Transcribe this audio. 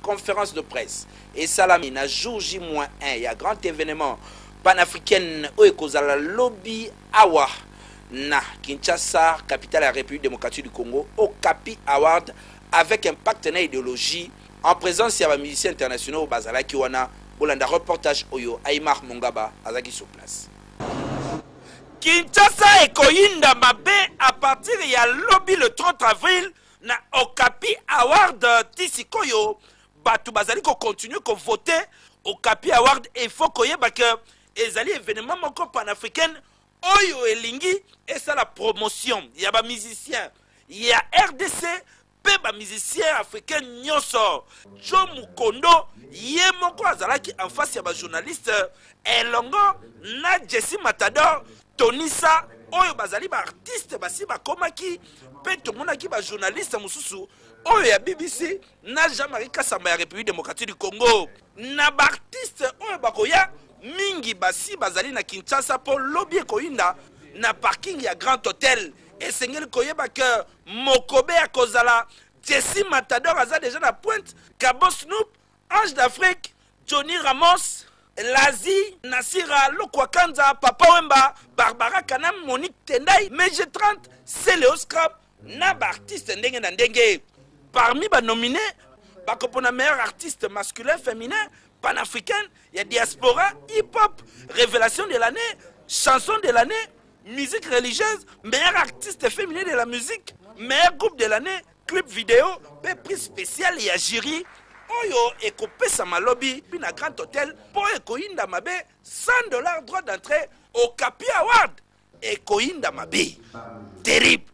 conference de presse esalami na jour j moins 1 ya grand événement panafricaine oyo ekozala lobi awa na kinshasa capitale ya république démocratique du congo okapi award avec un pacte na idéologie en présence ya bamusicien internationaux bazalaki wana bolanda reportage oyo aimar mongaba azalaki sur place kinshasa ekoyinda mabe à partir ya lobi le 30 avril na Okapi Award ti sikoyo batu bazali ko continuer ko voter Okapi Award et il faut koyeba que ezali evenement moko panafricaine oyo elingi esala promotion ya ba musiciens ya RDC mpe ba musiciens africains nyonso Joe Mukondo ye moko azalaki en face ya ba journalistes elongo na Jesse Matador Tonisa oyo bazali ba artiste basi bakomaki mpe tomonaki ba journaliste mosusu oyo ya bbc na jean marie kasamba ya république démocratique du congo na ba artiste oyo bakoya mingi basi bazali na kinshasa mpo lobi ekoyinda na parking ya grand hotel esengeli koyeba ke mokobe akozala jesi matador aza deja na pointe kabosnoop Ange d'Afrique, Johnny Ramos, Lazi, Nassira, Lokwa Kanza, Papa Wemba, Barbara Kanam, Monique Tendai, Meje 30, Celeo Scrap na ba artistes ndenge na ndenge. Parmi ba nomines, bakopona meilleur artiste masculin, feminin, panafricaine, ya diaspora, hip-hop, revelation de l'année, chanson de l'année, musique religieuse, meilleur artiste feminin de la musique, meilleur groupe de l'année, Clip video pe prix special ya jury oyo ekopesama lobi na Grand Hotel po ekoyinda mabe 100 dollars droit d'entree Okapi Award ekoyinda mabe terrible.